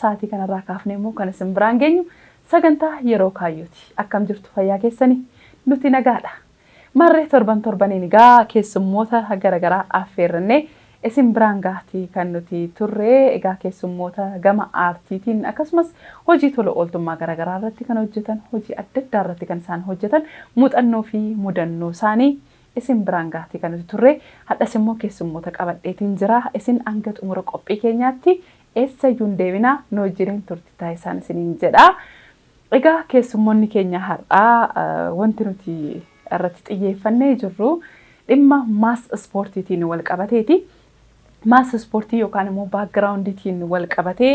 Sa'aatii kanarraa kaafnee immoo kan isin biraan geenyu sagantaa yeroo kaayyooti. Akkam jirtu fayyaa keessanii? Nuti nagaadha. Marree torban torbaniin egaa keessummoota garaagaraa affeerrannee isin biraan gaatii kan nuti turre egaa keessummoota gama aartiitiin akkasumas hojii tola ooltummaa garaagaraa irratti kan hojjetan hojii adda addaa irratti kan isaan hojjetan muuxannoo fi mudannoo isaanii isin biraan gahati kan nuti turre hadhas immoo keessummoota qabadheetiin jira isin anga xumura qophii keenyaatti eessayyuu hin deebina nu wajjiniin turti taasisaan isiniin jedha egaa keessummoonni keenya har'aa wanti nuti irratti xiyyeeffannee jirru dhimma maas ispoortiitiin wal qabateeti mass ispoortii yookaan immoo backgroundtiin wal qabatee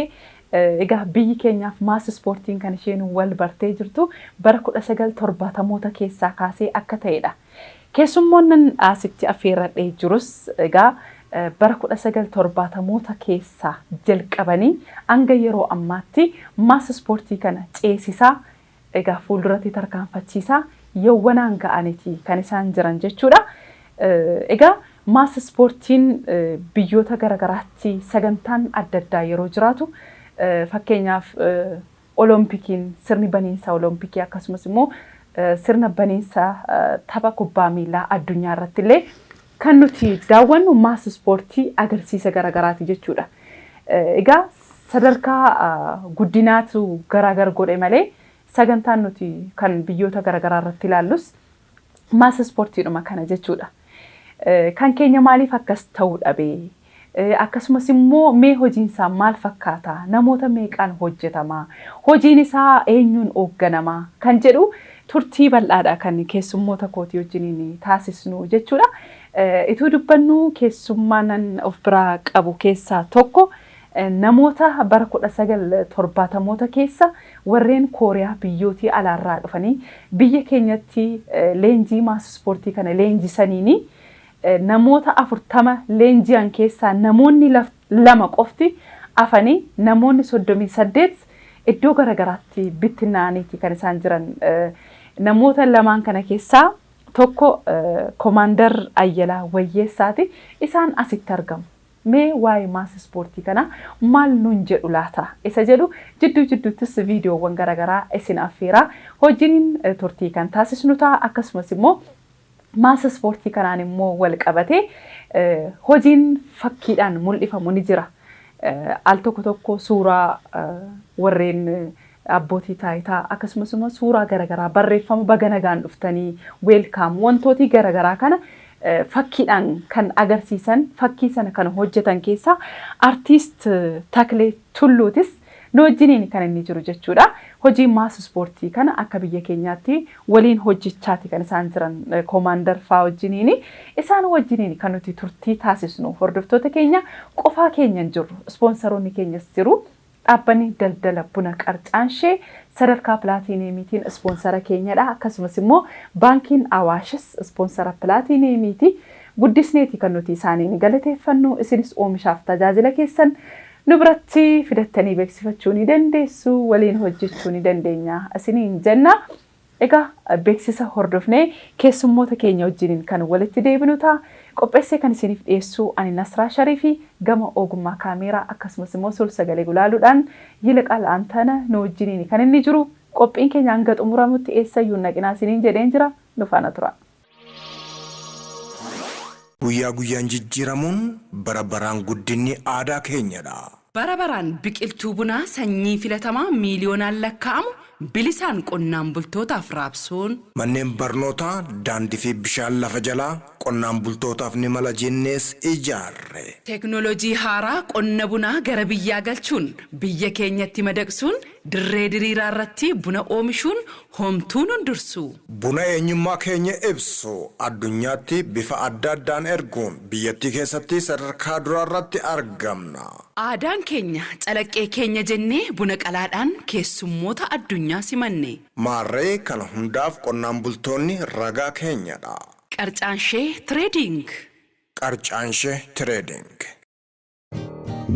egaa biyyi keenyaaf mass ispoortiin kan isheen wal bartee jirtu bara 1970moota keessaa kaasee akka ta'edha. Keessummoonnan asitti affeerradhee jirus egaa bara 1970moota keessaa jalqabanii hanga yeroo ammaatti mass ispoortii kana ceesisaa Egaa fuulduratti tarkaanfachiisaa yawwanaan ga'aniti kan isaan jiran jechuudha. Egaa mass ispoortiin biyyoota gara garaatti sagantaan adda addaa yeroo jiraatu fakkeenyaaf Olompikiin sirni baniinsa Olompikii akkasumas immoo sirna baniinsa tapha kubbaa miilaa addunyaa irrattillee Kan nuti daawwannu mass ispoortii agarsiisa garagaraati jechuudha. Egaa sadarkaa guddinaatu garaagar godhe malee sagantaan nuti kan biyyoota garagaraa irratti ilaallus mass ispoortiidhuma kana jechuudha. Kan keenya maaliif akkas ta'uu dhabe? Akkasumas immoo mee hojiin isaa maal fakkaata? Namoota meeqaan hojjetama? Hojiin isaa eenyuun oogganama? Kan jedhu turtii bal'aadha kan keessummoota kootii wajjiniin taasisnu jechuudha. Ituu dubbannuu keessummaanan of biraa qabu keessaa tokko namoota bara 1970moota keessa warreen Kooriyaa biyyootii alaarraa dhufanii biyya keenyatti leenjii maas ispoortii kana leenjisaniini Namoota 40 leenji'an keessaa namoonni lama qofti afanii namoonni 38 iddoo gara garaatti bittinnaa'aniiti kan isaan jiran. Namoota lamaan kana keessaa tokko Komaandar Ayyalaa Wayyeessaati. Isaan asitti argamu. Mee waa'ee maas ispoortii kanaa maal nuun jedhu laata isa jedhu jidduu jidduuttis viidiyoowwan gara garaa isin affeeraa wajjiniin turtii kan taasisnu ta'a. Akkasumas immoo Maasa ispoortii kanaan immoo walqabatee hojiin fakkiidhaan mul'ifamu ni jira. Al tokko tokko suuraa warreen abbootii taayitaa akkasumas immoo suuraa garaagaraa barreeffama baga nagaan dhuftanii weelkaam wantootii garaagaraa kana fakkiidhaan kan agarsiisan fakkii sana kan hojjetan keessaa artiist Taklee Tulluutis Nu wajjiniin kan inni jiru jechuudha. Hojii maas ispoortii kana akka biyya keenyaatti waliin hojjechaati kan isaan jiran koomaandar faa wajjiniin. Isaan wajjiniin kan nuti turtii taasisnu hordoftoota keenya qofaa keenya hin jirru. Ispoonsaroonni keenyas jiru. Dhaabbanni daldala buna Qarcaanshee sadarkaa pilaatiiniyeemiitiin ispoonsara keenyadha. Akkasumas immoo baankiin Awaashis ispoonsara pilaatiiniyeemiiti. Guddisneeti kan nuti isaaniin galateeffannu. Isinis oomishaaf tajaajila keessan Nu biratti fidattanii beeksifachuu ni dandeessu, waliin hojjechuu ni dandeenya isiniin jenna. Egaa beeksisa hordofnee keessummoota keenya wajjiniin kan walitti deebinu ta'a. Qopheessee kan isiniif dhiyeessu ani Nasraa Shariifi gama ogummaa kaameeraa akkasumas immoo suur-sagalee gulaaluudhaan Yiliqaal Antana nu wajjiniini kan inni jiru. Qophiin keenya hanga xumuramutti eessayyuu hin dhaqinaa isiniin jedheen jira. Nu faana turaa. Guyyaa guyyaan jijjiiramuun, bara baraan guddinni aadaa keenyadha! Bara baraan biqiltuu bunaa sanyii filatamaa miiliyoonaan lakkaa'amu bilisaan qonnaan bultootaaf raabsuun. Manneen barnootaa, daandii fi bishaan lafa jalaa qonnaan bultootaaf ni mala jennees ijaarre. Teeknooloojii haaraa qonna bunaa gara biyyaa galchuun biyya keenyatti madaqsuun Dirree diriiraa irratti buna oomishuun homtuu nun dursu. Buna eenyummaa keenya ibsu addunyaatti bifa adda addaan erguun biyyattii keessatti sadarkaa duraa irratti argamna. Aadaan keenya calaqqee keenya jennee buna qalaadhaan keessummoota addunyaa simanne. Maarree kana hundaaf qonnaan bultoonni ragaa keenyadha. Qarcaanshee Trading. Qarcaanshee Trading.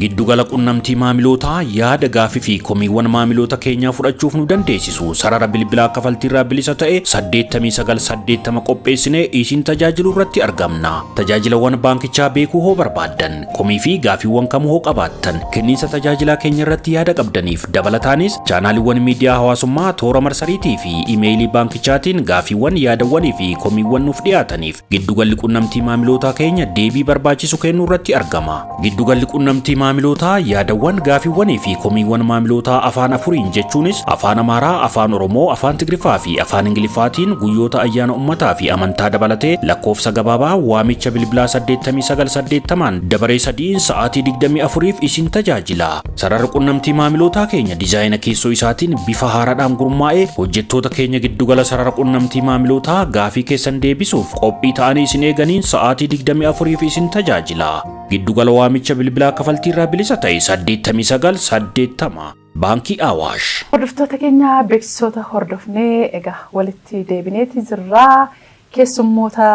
Giddugala qunnamtii maamilootaa yaada gaafii fi komiiwwan maamiloota keenyaa fudhachuuf nu dandeessisu sarara bilbilaa kafaltiirraa bilisa ta'e 8980 qopheessinee isin tajaajilu irratti argamna. Tajaajilawwan baankichaa beekuu hoo barbaaddan komii fi gaafiiwwan kamuu hoo qabaattan kenniinsa tajaajilaa keenya irratti yaada qabdaniif dabalataanis chaanaaliiwwan miidiyaa hawaasummaa toora marsariitii fi imeeyilii baankichaatiin gaafiiwwan yaadawwanii fi komiiwwan nuuf dhiyaataniif Giddugalli qunnamtii maamilootaa keenya deebii barbaachisu kennuu irratti argama. Giddugalli qunnamtii maamilootaa yaadawwan, gaafiiwwanii fi komiiwwan maamilootaa afaan afuriin jechuunis Afaan Amaaraa, Afaan Oromoo, Afaan Tigriffaa fi Afaan Ingiliffaatiin guyyoota ayyaana ummataa fi amantaa dabalatee lakkoofsa gabaabaa waamicha bilbilaa 8980n dabaree sadiin sa'aatii 24f isin tajaajila. Sararri qunnamtii maamilootaa keenya dizaayina keessoo isaatiin bifa haaraadhaan gurmaa'ee hojjettoota keenya giddugala sarara qunnamtii maamilootaa gaafii keessan deebisuuf qophii ta'anii isin eeganiin sa'aatii 24f isin tajaajila. Giddugala waamicha bilbilaa kafaltiirraa bilisa ta'e 8980 Baankii Awaash. Hordoftoota keenya beeksisoota hordofnee egaa walitti deebineeti jirraa. keessummoota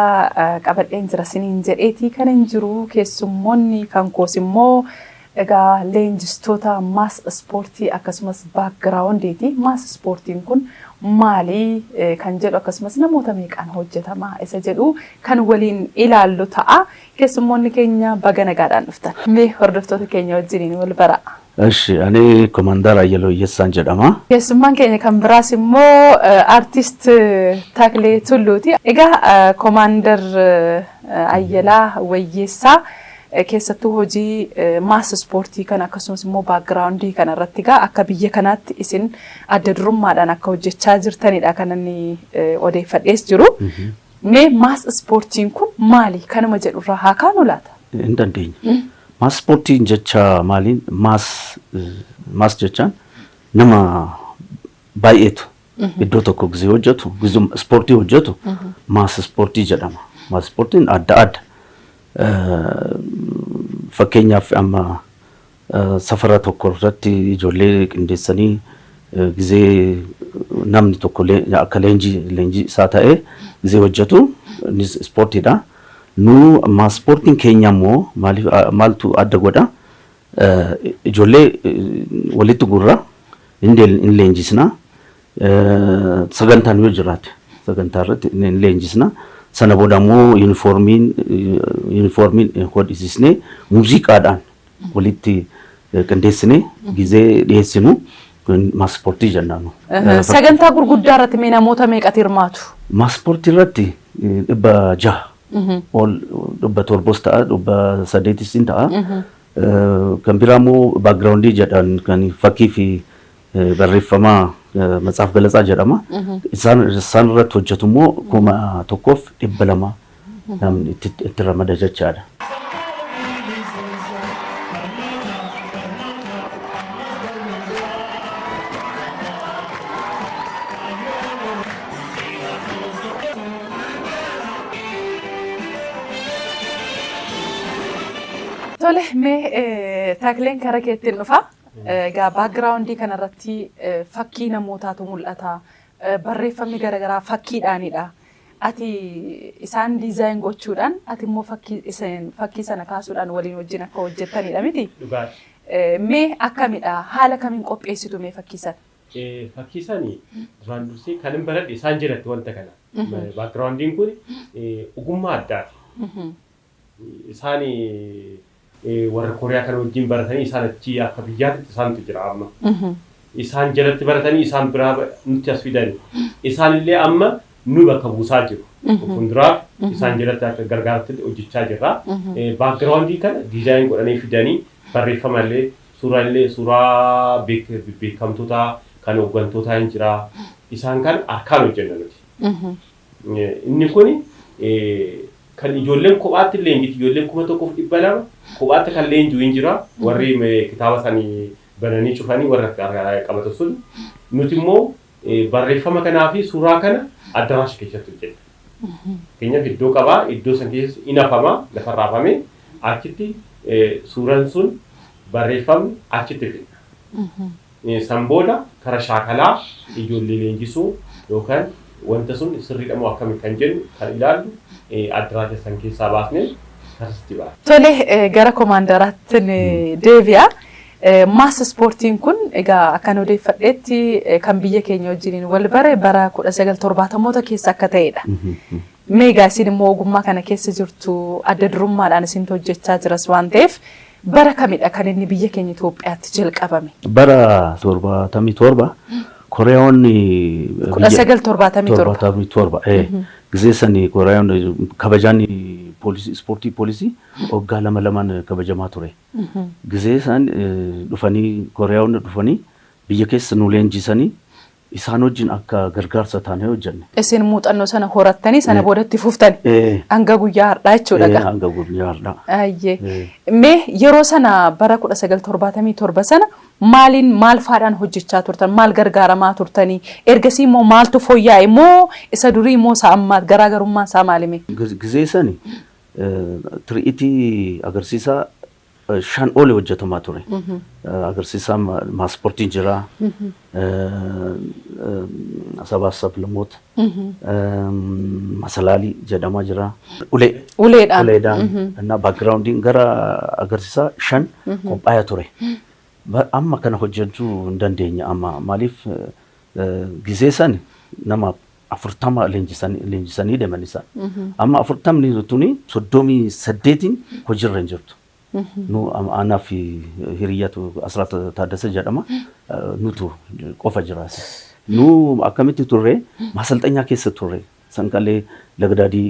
qabadheen jira siniin jedheetii kan hin jiru keessummoonni kan koos immoo Egaa leenjistoota mass ispoortii akkasumas background'ti. Mass ispoortiin kun maali kan jedhu akkasumas namoota meeqaan hojjetama isa jedhu kan waliin ilaallu ta'a. Keessummoonni keenya baga nagaadhaan dhuftan. Mee hordoftoota keenya wajjiniin wal baraa. Eshi ani Komandaar Ayyaloo Iyyessaan jedhama. Keessummaan keenya kan biraas immoo Artist Taklee Tulluuti. Egaa Komaandar Ayyalaa Wayyeessaa Keessattuu hojii mass ispoortii kana akkasumas immoo background kana irratti egaa akka biyya kanaatti isin adda durummaadhaan akka hojjechaa jirtanidha kan inni odeeffadhees jiru. Mee mass ispoortiin kun maali? Kanuma jedhurraa haa kaanu laata? Hin dandeenya. Mass ispoortiin jecha maaliin mass mass jechaan nama baay'eetu iddoo tokko gizee hojjetu gizuma ispoortii hojjetu mass ispoortii jedhama. Mass ispoortiin adda adda. Fakkeenyaaf amma safara tokko irratti ijoollee qindeessanii gizee namni tokko akka leenjii leenjii isaa ta'ee gizee hojjetu innis ispoortiidha. Nu ammaa ispoortiin keenya immoo maaliif maaltu adda godha? Ijoollee walitti gurra hin leenjisna. Sagantaan yoo jiraate sagantaa irratti ni leenjisna. Sana booda immoo yuunifoormiin yuunifoormiin hodhisisnee muuziqaadhaan walitti qindeessinee gizee dhiyeessinu maaspoortii jennaan nu. Sagantaa gurguddaa irratti mee namoota meeqatu hirmaatu? Maaspoortii irratti dhibba jaha ol dhibba torbos ta'a dhibba saddeetis in ta'a. Kan biraa immoo baakgiraawundii jedhan kan fakkii fi eh, barreeffama eh, matsaaf galatsaa jedhama. Isaan isaan irratti hojjetu immoo kuma tokkoof dhibba lama namni itti itti ramada jechaadha. Tole mee eh, takleen kara keettiin dhufa. Egaa background kana irratti fakkii namootaatu mul'ata. Barreeffamni gara garaa fakkiidhaanidha. Ati isaan design gochuudhaan ati immoo fakkii isin fakkii sana kaasuudhaan waliin wajjin akka hojjettanidha miti? Dhugaadha. Mee akkamidha? Haala kamiin qopheessitu mee fakkii sana? Fakkii sana duraan dursee kanin baradhe isaan jalatti wanta kana. Background kun ogummaa addaati. Isaan warra Kooriyaa kana wajjin baratanii isaan achi akka biyyaatitti isaantu jira amma. Isaan jalatti baratanii isaan biraa nutti as fidani. Isaan illee amma nu bakka buusaa jiru. Fuulduraaf isaan jalatti akka gargaartitti hojjechaa jirra. Baakgiraawundii kana diizaayin godhanii fidanii barreeffama illee suuraa illee suuraa beekamtotaa kan hooggantootaa hin jira. Isaan kana harkaan hojjenna nuti. Inni kun kan ijoolleen kophaatti leenjitu ijoolleen 1200 kophaatti kan leenjuu hin jira warri kitaaba sani bananii cufanii warra qabatan sun nuti immoo barreeffama kanaa fi suuraa kana addaraasha keessatti hojjenna. Fakkeenyaaf iddoo qabaa iddoo san keessatti in hafama lafa raafame achitti suuraan sun barreeffamni achitti fidna. San booda kara shaakalaa ijoollee leenjisuu yookan wanta sun sirriidha moo akkami kan jennu kan ilaallu addaraa keessan keessaa baasnee karsitti baana. Tole gara komaandaraattin deebi'a. Mass ispoortiin kun egaa akkan odeeffadheetti kan biyya keenya wajjiniin wal bare bara 1970moota keessa akka ta'edha. Mee egaa isin immoo ogummaa kana keessa jirtu adda durummaadhaan isintu hojjechaa jiras waan ta'eef Bara kamidha kan inni biyya keenya Itoophiyaatti jalqabame? Bara 77 Koreeyoonni Kudha biyya- sagal torbaatamii torba. torbaatamii torba. ee. Gisee sanii Koreeyoonni kabajaan poolisii ispoortii poolisii waggaa lama lamaan kabajamaa ture. Gisee isaan eh, dhufanii Koreeyoonni dhufanii biyya keessa nu leenjisanii Isaan wajjin akka gargaarsa taanee hojjenne. Isin muuxannoo sana horattanii sana booda itti fuftani. Hanga guyyaa har'aa jechuudha egaa. Hanga guyyaa har'aa. Ayyee. Mee yeroo sana bara 1977 sana maaliin maal faadhaan hojjechaa turtan? Maal gargaaramaa turtanii? Ergasii immoo maaltu fooyya'e moo isa durii moo isa ammaa garaagarummaan isaa maalime? Gizee sani tiri'itii agarsiisaa shan oli hojjetamaa ture. Agarsiisaa maaspoortiin jira. Sabaa sablamoota. Masalaalii jedhamaa jira. Ulee. Uleedhaan. Uleedhaan. Innaa baakgiraawundiin gara agarsiisaa shan qophaa'ee ture. Amma kana hojjechuu hin dandeenye amma maaliif gizee san nama 40 leenjisanii leenjisanii deeman isaan. Amma 40 tuni 38n hojiirra hin jirtu. Nu am- anaa fi hiriyyatu Asraat Taaddasa jedhama. Eh, Nutu qofa jiraas. Nu akkamitti turre masalxanyaa keessa turre. Sanqalee lagdaadii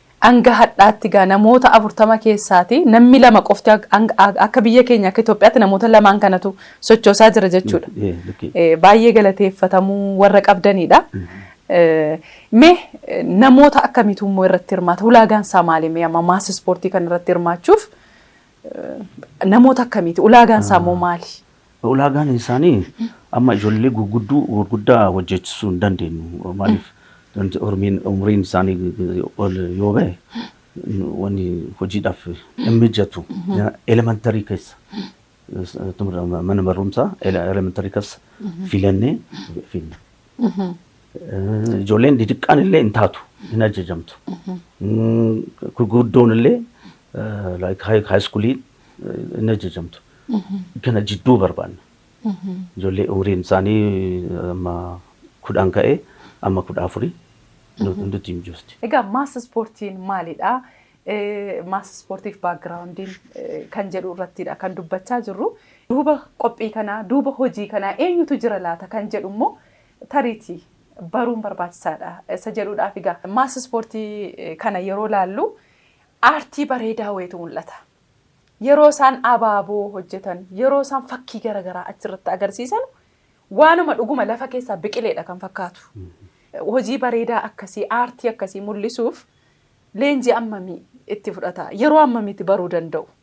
Hanga hadhaatti egaa namoota 40 keessaati nammi 2 qofti akka biyya keenya akka Itoophiyaatti namoota lamaan kanatu sochoosaa jira jechuudha. Baay'ee galateeffatamuu warra qabdaniidha. Mee namoota akkamiitu immoo irratti hirmaata? Ulaagaan isaa maali? Mee amma maas ispoortii kana irratti hirmaachuuf namoota akkamiiti? Ulaagaan isaa immoo maali? Ulaagaan isaanii amma ijoollee gugudduu gurguddaa hojjechisuu hin dandeenyu. Maaliif hormiin umriin isaanii ol yoo ba'e wanni hojiidhaaf hin mijatu. Elementarii keessa mana barumsaa elementarii keessa filannee finna. Ijoolleen didiqqaan illee hin taatu hin ajajamtu. Gurguddoon illee like high schoolii hin ajajamtu. Kana jidduu barbaanna. Ijoollee umriin isaanii amma kudhan ka'ee amma kudha afurii nutti hin jirti. Egaa maas ispoortiin maalidha? Maas ispoortiif baakgiraawundiin kan jedhu irrattidha kan dubbachaa jirru. Duuba qophii kanaa, duuba hojii kanaa eenyutu jira laata kan jedhu immoo tariitii baruun barbaachisaadha isa jedhuudhaaf egaa maas ispoortii kana yeroo laallu Aartii bareedaa wayiitu mul'ata. Yeroo isaan abaaboo hojjetan, yeroo isaan fakkii gara garaa achirratti agarsiisanu waanuma dhuguma lafa keessaa biqileedha kan fakkaatu. Hojii bareedaa akkasii, aartii akkasii mul'isuuf leenjii ammamii itti fudhata? Yeroo ammamiitti baruu danda'u?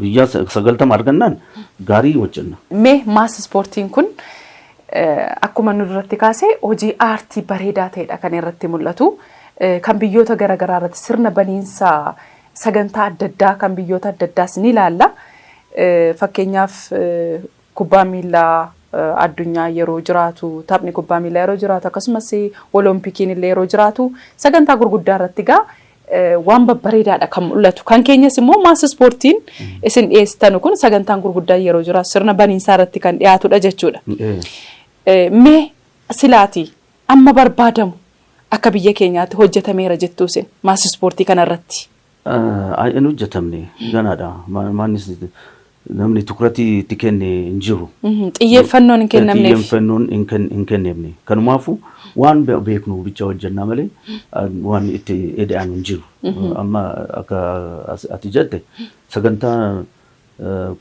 Guyyaa sagaltama argannaan gaarii hojjenna. Mee maas ispoortiin kun akkuma nu duratti kaase hojii aartii bareedaa ta'edha kan irratti mul'atu. Kan biyyoota garaagaraa irratti sirna baniinsa sagantaa adda addaa kan biyyoota adda addaas ni ilaalla. Fakkeenyaaf Kubbaan miillaa addunyaa yeroo jiraatu, taphni kubbaa miillaa yeroo jiraatu, akkasumas Oloompikiin illee yeroo jiraatu sagantaa gurguddaa irratti egaa waan babbareedaadha kan mul'atu. Kan keenyas immoo maas ispoortiin isin dhiyeessitanu kun sagantaan gurguddaan yeroo jiraatu sirna baniinsaa irratti kan dhiyaatudha jechuudha. Mee silaati amma barbaadamu akka biyya keenyaatti hojjetameera jettuu isin maas ispoortii kanarratti? hin hojjetamne ganaadha. Maannis namni tukuratii itti kenne hin jiru. Xiyyeeffannoon hin kennamneef. Xiyyeeffannoon hin kenneefne. Kanumaafuu waan beeknu bicha hojjennaa malee waan itti eda'an hin jiru. Amma akka ati jette sagantaa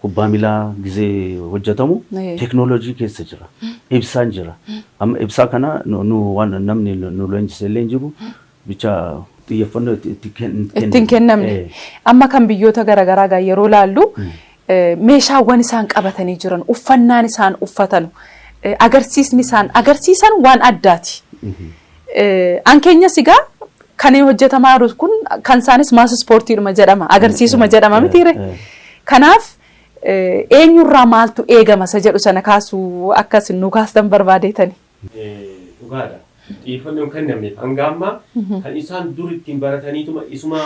kubbaa milaa gizee hojjetamu teeknooloojii keessa jira. Ibsaan jira. Amma ibsaa kana nu waan namni nu leenjisee illee hin jiru. bicha xiyyeeffannoo itti itti ken- itti hin kennamne. kennamne. Eh, Amma kan biyyoota garaagaraa gaa yeroo laallu eh, meeshaawwan isaan qabatanii jiran, uffannaan isaan uffatanu, eh, agarsiisni isaan agarsiisan waan addaati. Eh, An keenyas egaa kan hojjetamaa jiru kun kan isaanis maas ispoortiidhuma jedhama, agarsiisuma jedhama mitiire. eh. Kanaaf eh, eenyurraa maaltu eegama isa jedhu sana kaasuu akka isin nu kaastan barbaadeetani. Dhugaa dha. Xiyyeeffannoo hin kennamneef. Hanga ammaa kan isaan dur ittiin barataniituma isuma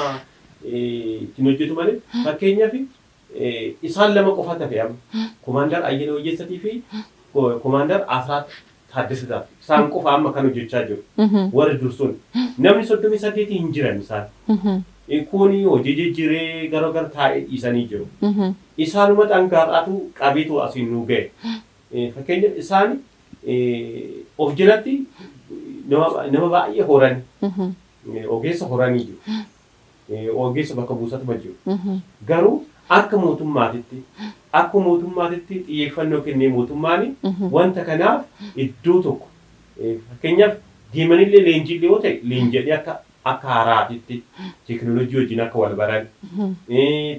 ittiin hojjetu malee fakkeenyaaf isaan lama qofaatu hafe amma. Komaandar Ayyala Wayyeessatii fi Komaandar Asraat Taaddasataa isaan qofa amma kan hojjechaa jiru. Warri dur sun namni soddomii saddeetii hin jiran isaan. Kun hojii jijjiiree gara gara taa'ee dhiisanii jiru. Isaanumatu hanga har'aatu qabeetu asiin nu ga'e. Fakkeenyaaf isaan of jalatti nama baay'ee horani. Ogeessa horanii jiru. Ogeessa bakka buusatuma jiru. Garuu akka mootummaatitti akka mootummaatitti xiyyeeffannoo kennee mootummaan wanta kanaaf iddoo tokko fakkeenyaaf deemanillee leenjiillee yoo ta'e leenji'anii akka akka haaraatitti teekinooloojii wajjin akka wal baran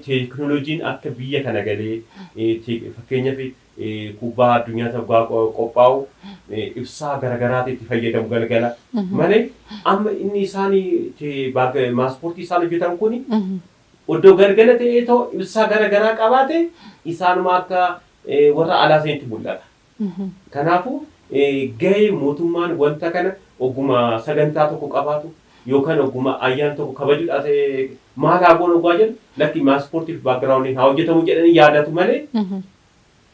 teekinooloojiin akka biyya kana galee fakkeenyaaf kubbaa addunyaati oggaa qophaa'u ibsaa garagaraati itti fayyadamu galgala malee amma inni isaan maaspoortii isaan hojjetan kun oddoo galgala ta'ee too ibsaa garagaraa qabaate isaanuma akka warra alaa sanitti mul'ata. Kanaafuu gahee mootummaan wanta kana ogguma sagantaa tokko qabaatu yookaan ogguma ayyaana tokko kabajudhaa ta'e maal haa goonu oggaa jennu lakki maasportiif backgroundiin haa hojjetamu jedhanii yaadatu malee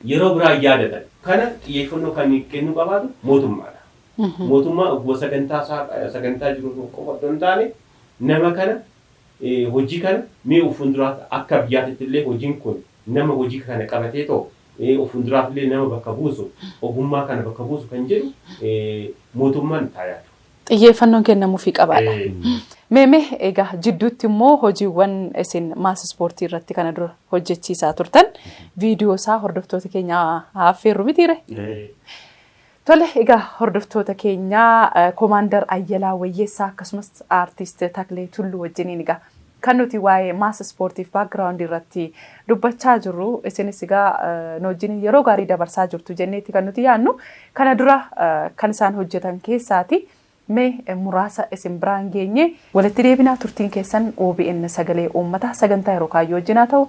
yeroo biraa hin yaadatan. Kana xiyyeeffannoo kan kennuu qabaatu mootummaadha. Mootummaan ogguma sagantaa isaa sagantaa jiru tokko qofa otoo hin taane nama kana hojii kana mee of fuulduraatti akka biyyaatitti illee hojiin kun nama hojii kana qabatee too of fuulduraaf illee nama bakka buusu ogummaa kana bakka buusu kan jedhu mootummaan itti haa yaadu. xiyyeeffannoon kennamuufii qabaadha. Mee mee egaa jidduutti immoo hojiiwwan isin maas ispoortii irratti kana dura hojjechiisaa turtan viidiyoo isaa hordoftoota keenya affeerru mitiire? Tole egaa hordoftoota keenya komaandar Ayyalaa Wayyeessaa akkasumas aartiist Taklee Tulluu wajjiniin egaa Kan nuti waa'ee mass ispoortiif background irratti dubbachaa jirru isinis egaa nu wajjin yeroo gaarii dabarsaa jirtu jenneeti kan nuti yaannu kana dura kan isaan hojjetan keessaati mee muraasa isin biraan geenye walitti deebinaa turtiin keessan OBN sagalee uummataa sagantaa yeroo kaayyoo wajjin haa ta'u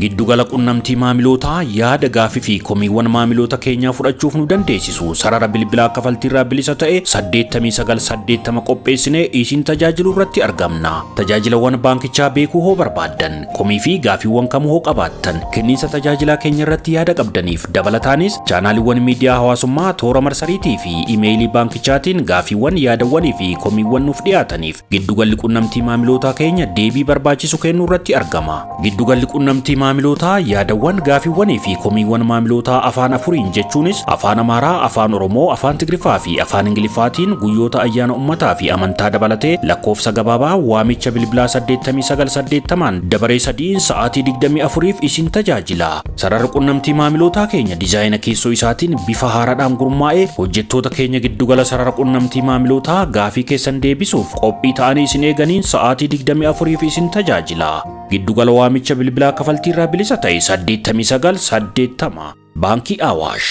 Giddugala qunnamtii maamilootaa yaada gaafii fi komiiwwan maamiloota keenyaa fudhachuuf nu dandeessisu sarara bilbilaa kafaltiirraa bilisa ta'e 8980 qopheessinee isin tajaajilu irratti argamna. Tajaajilawwan baankichaa beekuu hoo barbaaddan komii fi gaafiiwwan kamuu hoo qabaattan kenniinsa tajaajilaa keenya irratti yaada qabdaniif dabalataanis chaanaaliiwwan miidiyaa hawaasummaa toora marsariitii fi imeeyilii baankichaatiin gaafiiwwan yaadawwanii fi komiiwwan nuuf dhiyaataniif Giddugalli qunnamtii maamilootaa keenya deebii barbaachisu kennuu irratti argama. Giddugalli qunnamtii maamilootaa yaadawwan, gaafiiwwanii fi komiiwwan maamilootaa afaan afuriin jechuunis Afaan Amaaraa, Afaan Oromoo, Afaan Tigriffaa fi Afaan Ingiliffaatiin guyyoota ayyaana ummataa fi amantaa dabalatee lakkoofsa gabaabaa waamicha bilbilaa 89 80n dabaree sadiin sa'aatii 24f isin tajaajila. Sararri qunnamtii maamilootaa keenya dizaayina keessoo isaatiin bifa haaraadhaan gurmaa'ee hojjettoota keenya giddugala sarara qunnamtii maamilootaa gaafii keessan deebisuuf qophii ta'anii isin eeganiin sa'aatii 24f isin tajaajila. Giddugala waamicha bilbilaa kafaltii irraa bilisa ta'e 89 80 Baankii Awaash.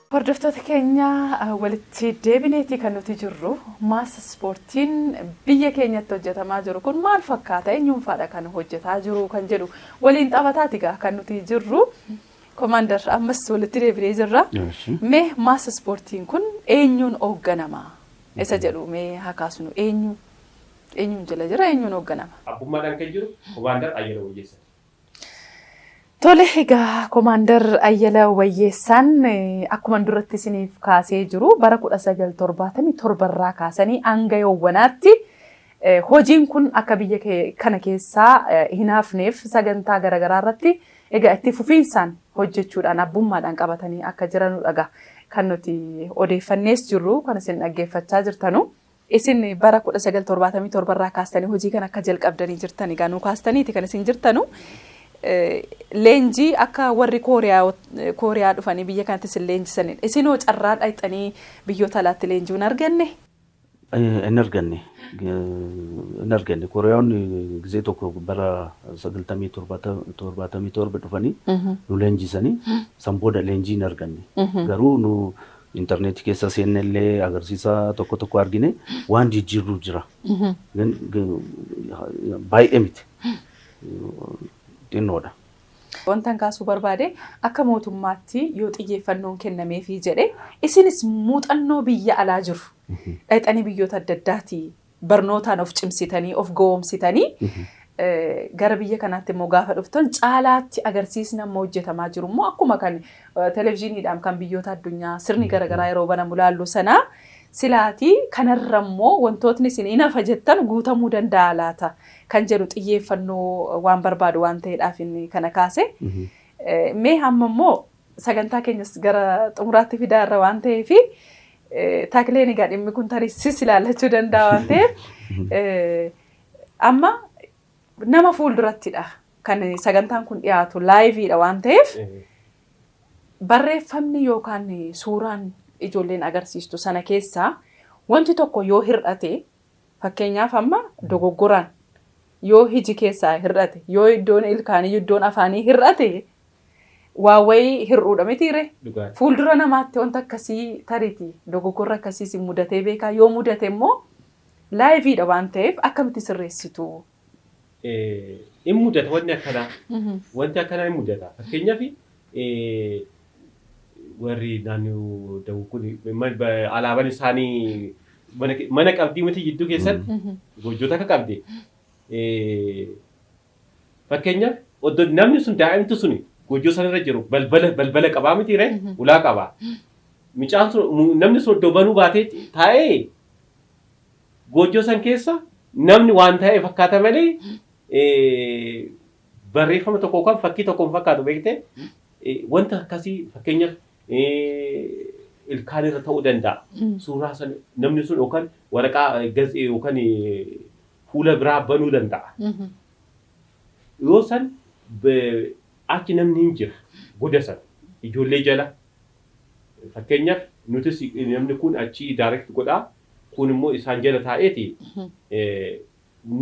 Hordoftoota keenya walitti deebineetii kan nuti jirru maas ispoortiin biyya keenyatti hojjetamaa jiru kun maal fakkaata eenyuunfaadha kan hojjetaa jiru kan jedhu waliin taphataati gaa kan nuti jirru komaandar ammas walitti deebinee jirra mee maas ispoortiin kun eenyuun hoogganama isa jedhu mee haa kaasnu eenyu eenyuun jala jira eenyuun hoogganama. Abbummaadhaan kan jiru komaandar Ayyala Wayyeessaati. Tole egaa Komaandar Ayyala Wayyeessaan eh, akkuman duratti isiniif kaasee jiru bara 1977 irraa kaasanii hanga yoowwanaatti eh, hojiin kun akka biyya kee- kana keessaa eh, hin hafneef sagantaa garaagaraa irratti egaa itti fufiinsaan hojjechuudhaan abbummaadhaan qabatanii akka jiranudha egaa kan nuti odeeffannees jirru kan isin dhaggeeffachaa jirtanu. Isin bara 1977 irraa kaastanii hojii kana akka jalqabdanii jirtan egaa nuu kaastaniiti kan isin jirtanu. Leenjii akka warri Kooriyaa dhufanii biyya kanatti isin leenjisaniin isinoo carraa dhaqxanii biyyoota alaatti leenjii hin arganne? Hin arganne. Hin arganne. Kooriyaawonni gizee tokko bara 1977 dhufanii nu leenjisanii san booda leenjii hin arganne. Garuu nu Internet keessa seenne illee agarsiisa tokko tokko argine waan jijjiirru jira. Gan- gan- Baay'ee miti. Xinnoodha. Wantan kaasuu barbaade akka mootummaatti yoo xiyyeeffannoon kennameefii jedhe isinis muuxannoo biyya alaa jiru dhaqxanii biyyoota adda addaatii barnootaan of cimsitanii, of gowomsitanii gara biyya kanaatti immoo gaafa dhuftan caalaatti agarsiisni amma hojjetamaa jiru immoo akkuma kan televizyiiniidhaan kan biyyoota addunyaa sirni garaagaraa yeroo banamu laallu sana silaatii kanarra immoo wantootni isin hin hafa jettan guutamuu danda'a laata kan jedhu xiyyeeffannoo waan barbaadu waan ta'eedhaaf inni kana kaase. Mee hamma immoo Sagantaa keenyas gara xumuraatti fidaa irra waan ta'eef takleen egaa dhimmi kun tarii sis ilaallachuu danda'a waan ta'eef amma nama fuuldurattidha kan sagantaan kun dhiyaatu laayiviidha waan ta'eef barreeffamni yookaan suuraan ijoolleen agarsiistu sana keessaa wanti tokko yoo hir'ate Fakkeenyaaf amma dogoggoraan yoo hiji keessaa hir'ate, yoo iddoon ilkaanii, iddoon afaanii hir'ate waa wayii hir'uudha mitii ree? Dhugaadha. Fuuldura namaatti wanta akkasii tariti dogoggorri akkasii isin mudatee beekaa? Yoo mudate immoo laayiviidha waan ta'eef akkamitti sirreessitu? in mudata wanni akkanaa. Wanti akkanaa in mudata. Fakkeenyaaf warri naannoo dawuu kun alaabaan isaanii mana qabdii miti jidduu keessatti goojjota akka qabde. Fakkeenyaaf oddo namni sun daa'imtu sun goojjoo sanarra jiru balbala balbala qabaa miti ree ulaa qabaa. Mucaan sun namni sun oddo banuu baatee taa'ee Goojjoo san keessa namni waan taa'e fakkaata malee barreeffama tokko yookaan fakkii tokko hin fakkaatu beekte wanta akkasii fakkeenyaaf ilkaan irra ta'uu danda'a. Suuraa san namni sun yookaan waraqaa gazi yookaan fuula biraa banuu danda'a. Yoo san achi namni hin jira goda san ijoollee jala Fakkeenyaaf nutis namni kuun achii direct godhaa kuun immoo isaan jala taa'eeti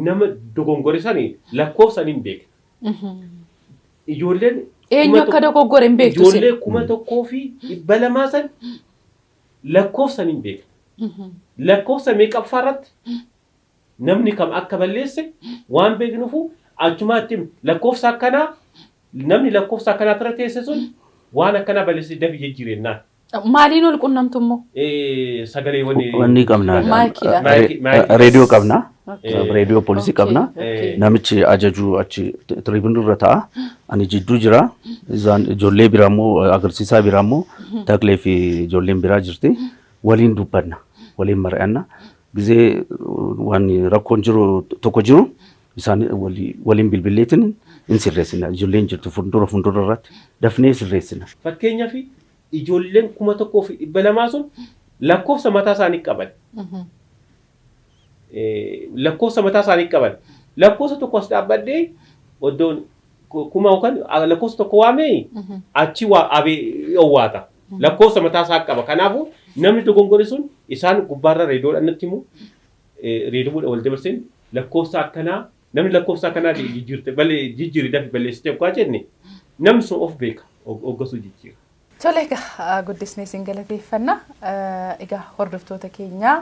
nama dogongore sani lakkoofsan hin beekna. Ijoolleen Eenyu akka dogoggore hin beektu isin. ijoollee kuma tokkoo fi dhibba lamaa san lakkoofsan hin beekna. Lakkoofsa meeqaffaa irratti Namni kam akka balleesse waan beeknuuf achumaatti himne. Lakkoofsa akkanaa namni lakkoofsa akkanaa irra teesse sun waan akkanaa balleessee dafi jijjiiri jennaan. Maaliin ol qunnamtu immoo? Sagaleewwan Wanni qabna. Maayikiidha. Maayikii- maayikii- Reediyoo qabna. Okay. Reediyoo poolisii Okay, qabna. okay. Namichi ajajuu achi tiriibinii irra ta'a. Ani jidduu jira. Isaan ijoollee biraa immoo agarsiisaa biraa immoo Taklee fi ijoolleen biraa jirti. Waliin dubbanna. Waliin mari'anna. Gizee waan rakkoon jiru tokko jiru isaan waliin bilbilleetiin hin sirreessina. Ijoolleen jirtu fuuldura fuuldura irratti dafnee sirreessina. Fakkeenyaaf ijoolleen 1200 sun lakkoofsa mataa isaanii qaban. Lakkoofsa mataa isaanii qaban. Lakkoofsa tokko as dhaabbadhee oddoon kuma yookaan lakkoofsa tokko waamee achi abee owwaata. Lakkoofsa mataa isaa qaba. Kanaafuu namni dogongore sun isaan gubbaarra reediyoodhaan natti himu. Reediyoodhaan wal dabarseen lakkoofsa akkanaa namni lakkoofsa akkanaa jijjiirte balee jijjiiri dafi balleessitee oggaa jenne namni sun of beeka oggasuu jijjiira. Tole egaa guddisnee isin galateeffanna. Egaa hordoftoota keenyaa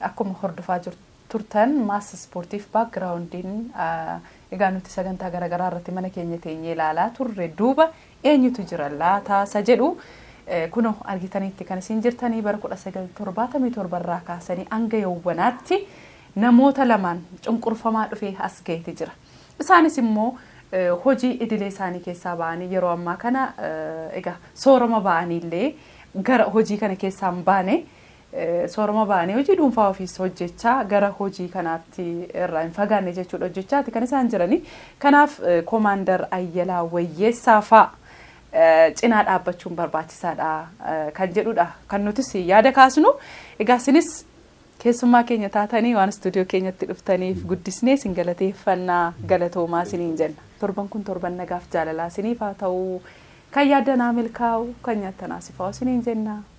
akkuma hordofaa jirtu. turtan mass ispoortiif background'n egaa nuti sagantaa garagaraa irratti mana keenya teenyee ilaalaa turre duuba eenyutu jira laata isa jedhu kuno argitaniitti kan isin jirtanii bara 1977 irraa kaasanii hanga yawwanaatti namoota lamaan cunqurfamaa dhufee as ga'eeti jira isaanis immoo hojii idilee isaanii keessaa ba'anii yeroo ammaa kana egaa soorama ba'anii illee gara hojii kana keessaa hin baane Soorama ba'anii hojii dhuunfaa ofiis hojjechaa gara hojii kanaatti irraa hin fagaanne jechuudha hojjechaati kan isaan jiranii. Kanaaf Komaandar Ayyalaa Wayyeessaa fa'a cinaa dhaabbachuun barbaachisaadha kan jedhudha kan nutis yaada kaasnu. Egaa isinis keessummaa keenya taatanii waan istuudiyoo keenyatti dhuftaniif guddisnee isin galateeffanna galatoomaa isiniin jenna. Torban kun torban nagaaf jaalalaa isiniif haa ta'u. Kan yaaddan haa milkaa'u, kan nyaattan haa sifaa'u isiniin jenna.